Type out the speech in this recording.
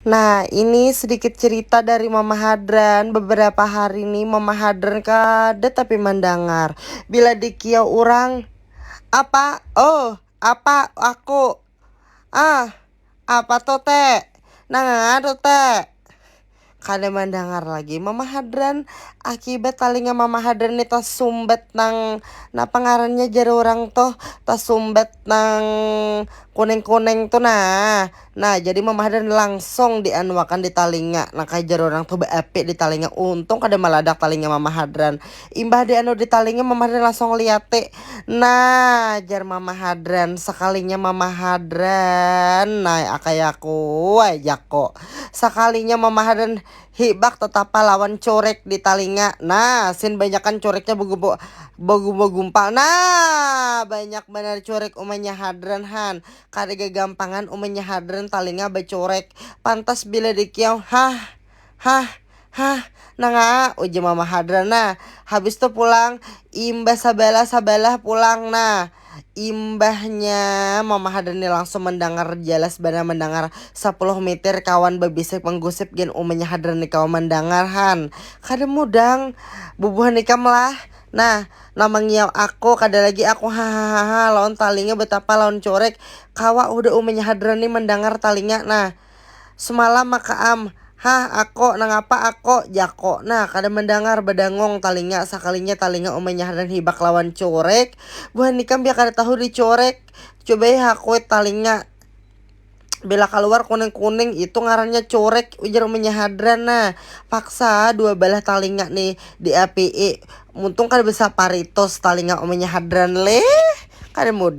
Nah, ini sedikit cerita dari Mama Hadran. Beberapa hari ini Mama Hadran kada tapi mandangar. Bila dikiau orang, apa? Oh, apa aku? Ah, apa tuh te? Nanganga tuh te? Kada mandangar lagi Mama Hadran. Akibat talinga Mama Hadran ini tasumbat nang napa ngarannya jar orang tuh tasumbat nang kuning-kuning tuh nah. Nah, jadi Mam Hadran langsung dianuakan di talinga. Nah, kaya jar urang tuh beapi di talinga. Untung kada maladak talinga Mama Hadran. Imbah dianu di talinga, Mama Hadran langsung liati. Nah, jar Mama Hadran, sakalinya Mama Hadran, Nah, akayaku ai jaku. Sakalinya Mama Hadran hibak tatapa lawan curik di talinga. Nah, sin banyakan curiknya begumpal. Nah, banyak banar curik umanya Hadran han. Kada gagampangan umanya hadran talinga bacurek. Pantas bila dikiau, hah! Hah! Hah! Nangaa! ujar mama hadran nah. Habis tu pulang, imbah sabalah sabalah pulang nah. Imbahnya mama hadran ni langsung mandangar jalas banar mandangar sapuluh mitir kawan babisik manggusip gin umanya hadran ni kawa mandangar han. Kada mudang bubuhan ikam lah. Nah, nang mangiau aku, kada lagi aku hahahaha lawan talinga betapa lawan curik, kawa hudah umanya hadran ni mandangar talinga nah. Semalam maka am, hah ako, nangapa ako, jako nah kada mandangar, badangung talinga, sakalinya talinga umanya hadran hibak lawan curik, buhan ikam pian kada tahu di curik, cubai ha kuit talinga. Bila kaluar kuning-kuning itu ngarannya curek ujar uminya hadran nah. Paksa dua balah talinga nih diapii. Muntung kada besaparitus talinga uminya hadran leh. Kada mudah.